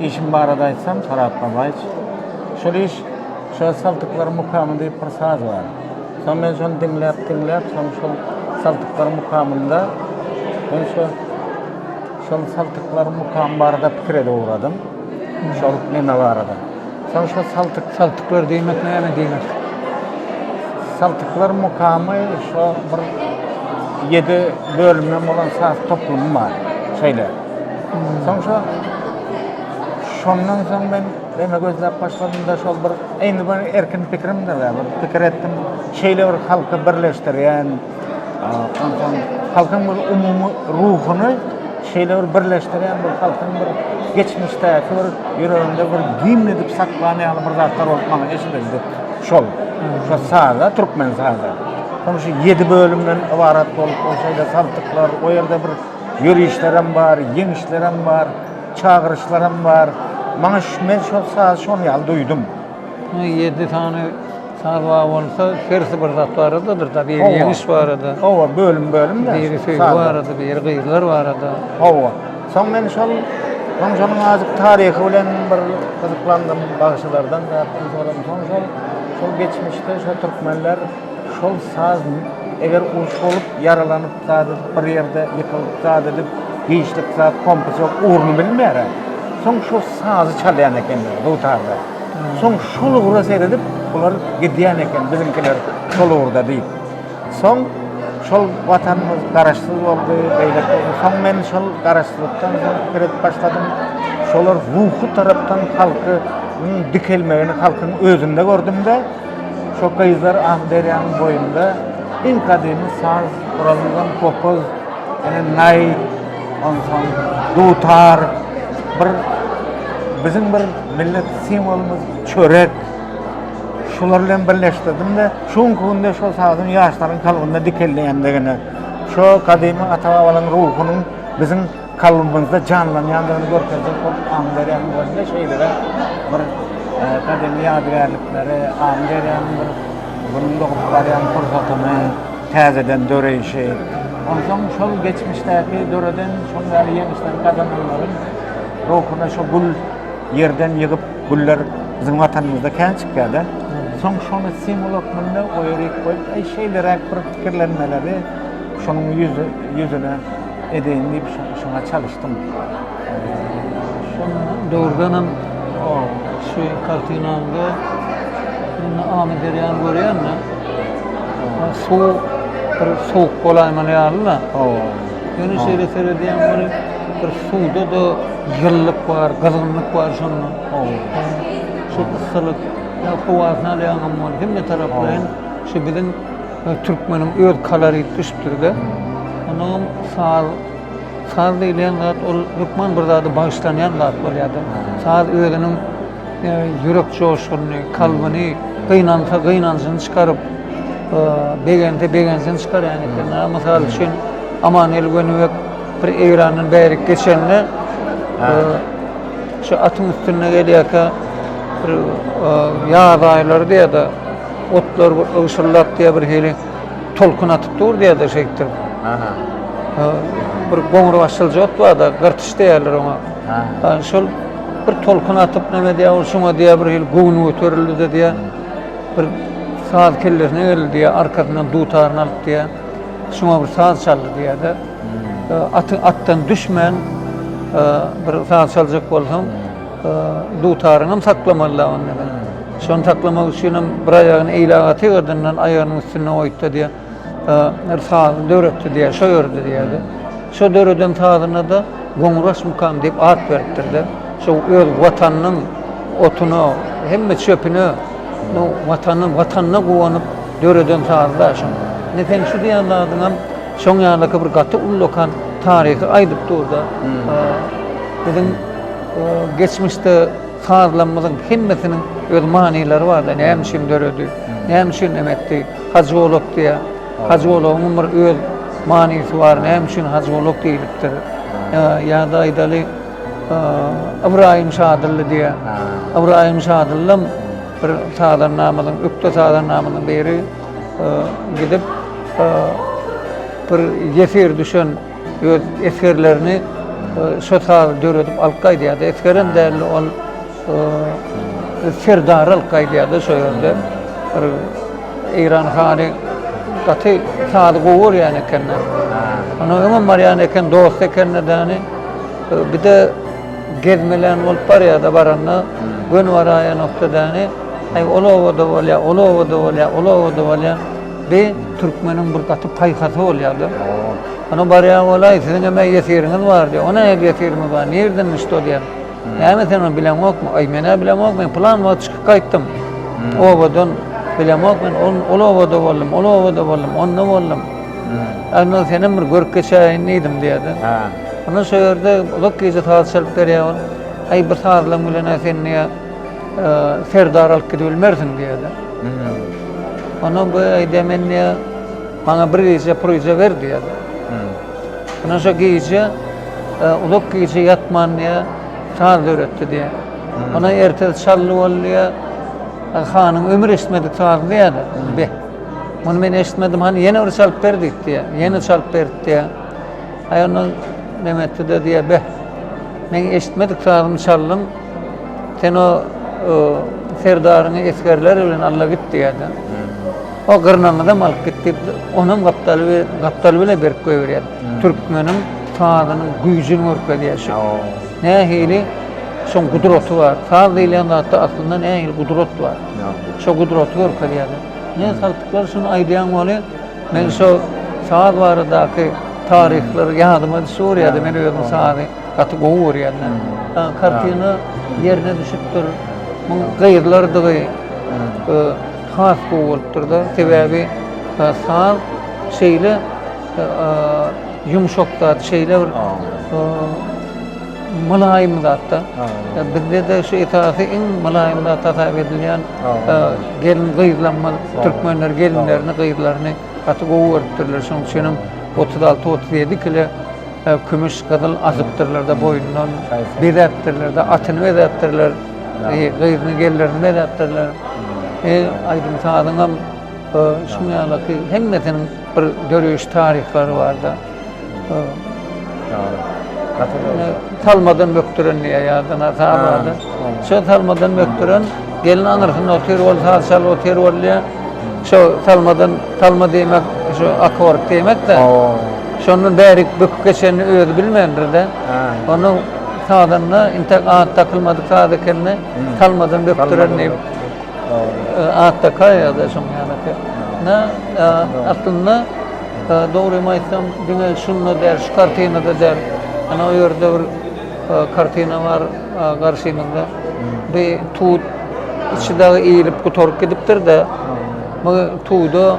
Işim barada aýtsam, Farhat Babaýew, şol iş, şol saltyklar mukamy diýip bir saz bar. Soň men şony diňläp, diňläp, soň şol saltyklar mukamynda, men şo, şol saltyklar mukamy barada pikir edip ugradym. Şol neme barada. Soň şo saltyk, saltyklar diýmek näme diýmek? Saltyklar mukamy şo bir ýedi bölümden bolan saz toplumy bar. Şeýle. Soň şo şondan soň men demek gözläp başladym-da şol bir indi bir erkin pikirimdir-de, bir pikir etdim. Şeýle bir halky birleşdirýän, Onsoň halkyň bir umumy ruhuny şeýle bir birleşdirýän bir halkyň bir geçmişdäki bir ýüreginde bir gimn edip saklan ýaly bir zatlar bolup maňa eşidildi. Şol. Şo saza, türkmen saza. Soň şu 7 bölümden ybarat bolup, ol şeýle saltyklar, o ýerde bir ýörişlerem bar, ýeňişlerem bar, çagyryşlaram bar. Maňa ş-men şo sazy şonuň ýaly duýdum. Muňa ýedi sany saz bar bolsa, hersi bir zat baradadyr, biri ýeňiş barada. Hawa, bölüm-bölümde. Biri söýgi barada, biri gyzlar barada. Hawa. Soň men şol Gonjanyň azajyk taryhy bilen bir gyzyklandym, bagşylardan zat-zat soradym. Soň şol geçmişde şo türkmenler Şol sazn eger uruş bolup ýaralanyp zady bir ýerde ýykylyp zat edip giçlik zat kompasok ugruny bilmärä soň şo sazy çalýan ekenler dutarda soň şol ugra seredip bular gidýän eken biziňkiler şol ugurda diýip soň şol watanymyz garaşsyz boldy beýle boldy soň men şol garaşsyzlykdan soň pikir edip başladym şolar ruhy tarapdan halky dikelmegini halkyň özünde gördümde Şo gyzlar Amyderýanyň boýunda iň gadymy saz guralyndan kopuz, ene naý, onsoň dutar, bir biziň bir millet simwolymyz çörek, şular bilen birleşdirdim-de, şu günki günde şo sazyň ýaşlaryň kalbynda dikelýändigini, şo gadymy ata-babalaryň ruhunyň biziň kalbymyzda janlanýandygyny görkezjek bolup Amyderýanyň özünde şeýle-de bir gadymy ýadygärlikleri, Amyderýanyň bir günüň dogup barýan pursatyny täzeden döreýşi, onsoň şol geçmişdäki döreden şol ýaly ýeňişleri gazananlaryň ruhuna şu gül ýerden ýygyp güller biziň Watanymyzda kän çykýar-da. Soň şony simwol hökmünde oýa-rik goýup, şeýleräk bir pikirlenmeleri şonuň ýüzüne edeýin diýip şoňa çalyşdym. Şol döwürdenem şu kartinaňda indi Amy derýany görýänmi? Suw bir sowuk bolaýmaly ýaly-da. Ýöne şeýle seredýän bir bir suwda-da ýylylyk bar, gyzgynlyk bar şonda. Şu yssylyk, ýa howasyny alýaňam, hemme taraplaýyn şu biziň Türkmeniň öz kolorit düşüpdir-de. Onuňam saz, saz diýilýän zat ol hökman bir zady bagyşlanýan zat bolýardy. Saz özüniň ýürek joşgunyny, kalbyny gynansa gynanjyny çykaryp, begense begenjini çykarýan eken. Mysal üçin, Amanhel Wenübek bir Eýrandan bärik geçende, şu atyň üstünde gelýärkä, bir ýaz aýlarydy ýa-da, Otlar bir ygşyldap diýýär, birhili tolkun atyp dur diýýärdi şeýtdir. Aha. Bir goňur başylja ot bar-da, gyrtyş diýýärler oňa. Ha. Şol bir tolkun atyp näme diýýär, ol şoňa diýýär birhili göwni göterildi-de diýýär. Bir saz kellesine geldi diýýär, arkasyndan dutaryny alyp diýýär. Şoňa bir saz çaldy diýýär-de. Aty atdan düşmän bir saz çaljak bolsaň, Dutaryňy hem saklamaly däl onda sen. Şony saklamak üçin hem bir aýagyny eýle agaty ýerdinden aýagynyň üstünde goýupdy diýýär. Bir saz döretdi diýýär, şo ýördi diýýär. Şo döreden sazyna-da Goňuraş mukam diýip at beripdir-de. Şo öz Watanynyň otuna, hemme çöpüne Watanynyň Watanyna guwanyp döreden sazy-da şo. Indi seň şu diýen zadyňam Şoň ýaly bir gaty ullakan taryhy aýdyp durda. Biziň geçmişde sazlarymyzyň hemmesiniň öz manylary bar da, näme üçin döredi, näme üçin näme etdi, Hajy Bolak diýä. Hajy Bolagyň bir öz manysy bar, näme üçin Hajy Bolak diýlipdir. Ýa-da aýdaly Ybraýym Şadylly diýä. Ybraýym Şadyllam bir sazandamyzyň, ökde sazandamyzyň biri. gidip bir ýesir düşen öz esgerlerini şo sazy döredip alyp gaýdýardy. Esgerem däldi ol serdary alyp gaýdýardy şo ýerde. Bir Eýran hany gaty sazy gowy görýän ekende. Ony öňem barýan eken, dost ekende däni. Bir de gezmelän bolup barýardy, baranda göni baraýanokda däni. Aý ol obada bolýa, ol obada bolýa, ol obada bolýa. Bi türkmeniň bir gaty paýhasy bolýa-da. Ony barýan bolaý, siziň hem ýesiriňiz bar diýýär. Ony hem ýesirimiz bar, nireden düşdi ol diýýär. Näme sen ony bileňokmy? Aý men-ä bilemok, men pylan wagt çykyp gaýtdym. Obadan bilemok men, ol ol obada boldum, ol obada boldum, onda boldum. Onda seni hem bir görüp geçäýin diýdim diýýär-de. Onda şo ýerde uzak gije saz çalyp berýär ol. Aý bir sazlam bilen-ä sen diýýär. Serdar alyp gidip bilmersiň diýdi. Ondan bu aýdýar men diýä maňa bir gije pryza ber diýdi. Ondan şo gije uzak gije ýatman diýä saz döretdi diýä. Ona ertesi çally boldy diýä. Hanyň ömür eşitmedi saz diýdi. Be. Muny men eşitmedim. Hani ýene bir çalyp ber diýdi diýä. Ýene çalyp berdi diýä. Aýa ondan nemetdi de diýä. Be. Men eşitmedik sazymy çaldyň. Sen o serdaryňy esgerler bilen alla git diýýärdi. O gyrnaňyzam alyp git diýip, onam gapdaly we gapdaly bile berip goýberýär. Türkmeniň sazynyň güýjüni görkezýär şu. Nähili şoň gudraty bar. Saz diýilýän zatda aslynda nähili gudrat bar. Şo gudraty görkezýär. Ne saltyklar şuny aýdýaň weli, men şo saz baradaky taryhlary ýadyma düşüp urýardy, men özüm sazy Gaty gowy görýänler. Kartina ýerine düşüpdir. Muň gyzlardygy has gowy bolupdyr-da. Sebäbi saz şeýle ýumşak zat, şeýle bir mylaýym zat-da. Bizde-de şu esasy iň mylaýym zat hasap edilýän gelin-gyzlanma, türkmenler gelinlerini, gyzlaryny Gaty gowy görüpdirler şonuň üçinem otuz alty otuz ýedi kile kümüş gyzyl asypdyrlarda boýundan bezäpdirlerde atyny bezäpdirler gyzyny gellerini bezäpdirler e aýdym sazyňam şuň ýaly hemmesiniň bir döreýiş taryhlary barda Salmadan mökdüren diýýä ýadyna salady. Şo salmadan mökdüren gelin aňyrsynda otyr, ol saz çalyp otyr bolýa. Şo salmadan salma diýmek, şo akord diýmek-de. Şondan bärik böküp geçenini özi bilmändir-de. Onuň sazynda intek at dakylmadyk saz ekenini salmadan mökdüren diýip at dakaýýa-da şoň ýaly. Aslynda Dogrymy aýtsam, diňe şunda däl, şu kartinada däl. Ana, o ýerde bir kartina bar, garşymyzda. Bir tut içi dagy iýlip gutaryp gidipdir-de, bu tuda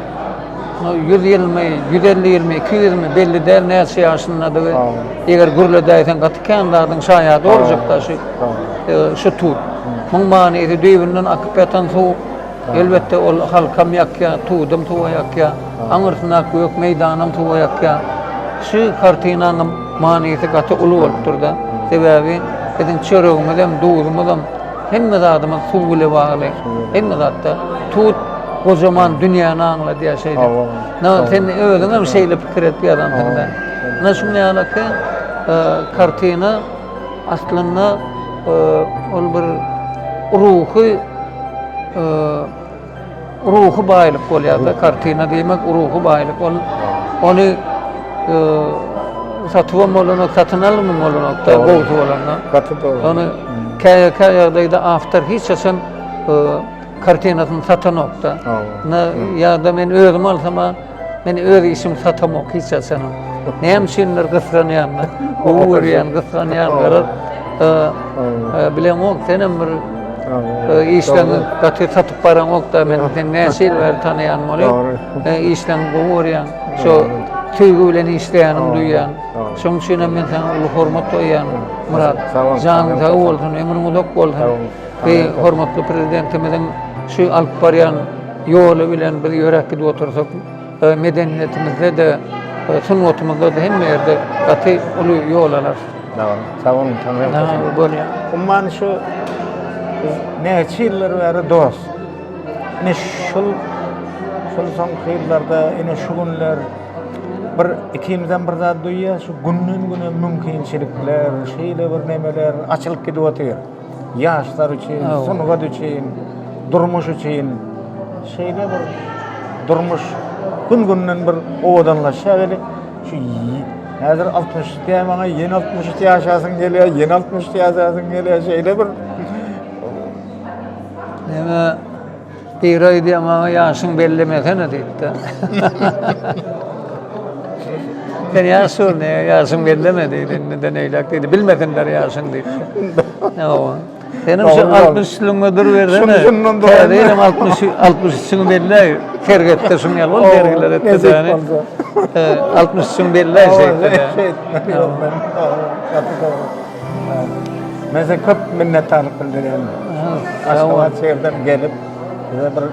ýüz ýylmy, ýüz elli ýylmy, iki ýüzmi, belli däl näçe ýaşyndadygy. Eger gürledäýseň gaty kän zadyň şaýady boljak daşy, şu tut. Muň manysy düýbünden akyp ýatan suw. Elbetde, ol halkam ýakýar, tudam suwa ýakýar, aňyrsyndaky gök meýdanam suwa ýakýar. Şu kartinanyň manysy gaty uly bolupdyr-da. Sebäbi biziň çöregimizem, duzumyzam, hemme zadymyz suw bile bagly. Hemme zatda tut gojaman dünýäni aňladýar şeýdip. Ynha, sen özüňem şeýle pikir edip ýazansyň-da. Ynha, şuňa ýaly ki, kartina. Aslynda ol bir ruhy ruhy baýlyk bolýar-da, kartina diýmek ruhy baýlyk. Ol ony satyp hem bolanok, satyn alyp hem bolanok, gowusy bolanda. Gaty gowy. Ony käýä-käýä ýagdaýda awtor hiç haçan kartinasyny satanok-da. Ýa-da men özüm alsam, Men öz işimi satamok hiç haçan. Näme üçindir gysganýarlar. Gowy görýän, gysganýarlar. E, e, bilen ol senem bir e, işden gaty satyp baran okda men sen näçe ýyl bäri tanýan boly. E, işden gowy görýän. Şo söýgi bilen işleýänim duýýan. Şoň üçin hem men sana uly hormat goýýan. Murat, janyň sag bolsun, ömrüň uzak bolsun. Bi hormatly prezidentimiziň şu alyp barýan ýoly bilen biz ýörek gidip otursak, medeniýetimizde-de, sungatymyzda-da hemme ýerde gaty uly ýol alarys. Dogry. Sag boluň, Taňry ýalkasyn. Bolýa. Umuman şu näçe ýyllar bäri dost. Ine şul şul soňky ýyllarda, ine şu günler bir ikimizem bir zat duýýas, şu günden-güne mümkinçilikler, şeýle bir nemeler açylyp gidip otyr. Ýaşlar üçin, sungat üçin, durmuş üçin şeýle bir durmuş gün-günden bir owadanlaşýar weli, şu häzir 60 diýýär maňa, ýene 63 ýaşasyň gelýär, ýene 63 ýaşasyň gelýär, şeýle bir. Ýöne Biri aýdýar maňa ýaşyňy bellemesene diýipdir. Sen ýaş dur, ne ýaşyň belleme diýdi. Indiden eýläk diýdi. Bilmesinler ýaşyň diýdi. Hawa. Senem şu 60 ýylyňda dur bersene. Şundan dur. Benim 60 60 üçüňi belläý. Sergette şuň ýaly bol sergiler etdi däni. 60 üçüňi belläý şeýtdi. Şeýtdi. Hawa. Hawa. Men size köp minnetdarlyk bildirýän. Aşgabat şehirden gelip, bize bir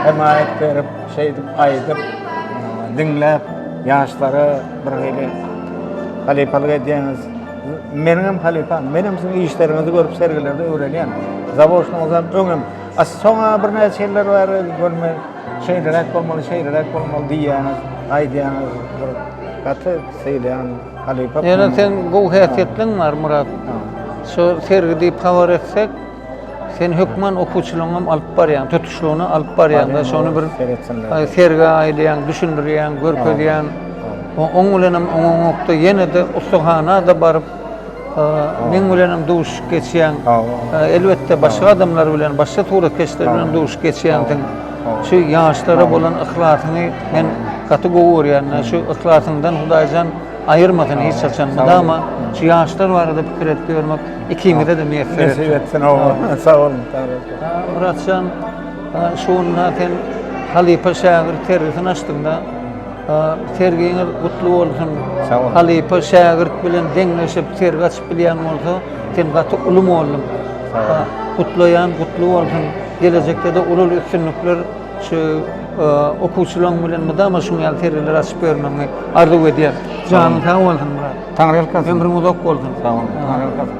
hemaýat berip, şeýdip aýdyp, diňläp, ýaşlara bir hili halypalyk edýäňiz. Meniň hem halypam, men hem siziň işleriňizi görüp sergilerde öwrenýän. Zawoşnyňyzam öňem, a soň-a birnäçe ýyllar bäri görme, şeýleräk bolmaly, şeýleräk bolmaly diýýäňiz, aýdýaňyz, bir gaty sylaýan. Halypa. Ýöne sen gowy häsiýetleň bar Murat. Şu sergi diýip habar etsek, sen hökman okuwçylaryňy hem alyp barýaň, tutuşlygyna alyp barýaň da şony bir sergä aýlaýaň, düşündirýäň, görkezýäň. Oň bilen hem oňaňokda ýene-de ussahana-da baryp, meň bilen hem duşuşyp geçýäň. Elbetde başga adamlar bilen, başga suratkeşler bilen duşuşyp geçýänsiň. Şu ýaşlara bolan yhlasyňy men gaty gowy görýän. Şu yhlasyňdan Hudaýjan aýyrmasyn hiç haçan. Mydama şu ýaşlar barada pikir edip ýörmek ikiňize-de miýesser etsin. Nesip etsin, amin. Sag boluň. Muratjan, şu günde sen halypa-şägirt sergisini açdyň-da. Sergiňiz gutly bolsun. Sag boluň. Halypa-şägirt bilen deňleşip sergi açyp bilýän bolsa, sen gaty uly mugallym. Sag boluň. Gutlaýan, gutly bolsun. Gelejekde-de uly-uly üstünlikler şu okuwçylaryň bilen mydama şuň ýaly sergileri açyp bermegiňi arzuw edýän. Janyň sag bolsun, Myrat. Taňryýalkasyn. Ömrüň uzak bolsun. Sag bol. Taňryýalkasyn.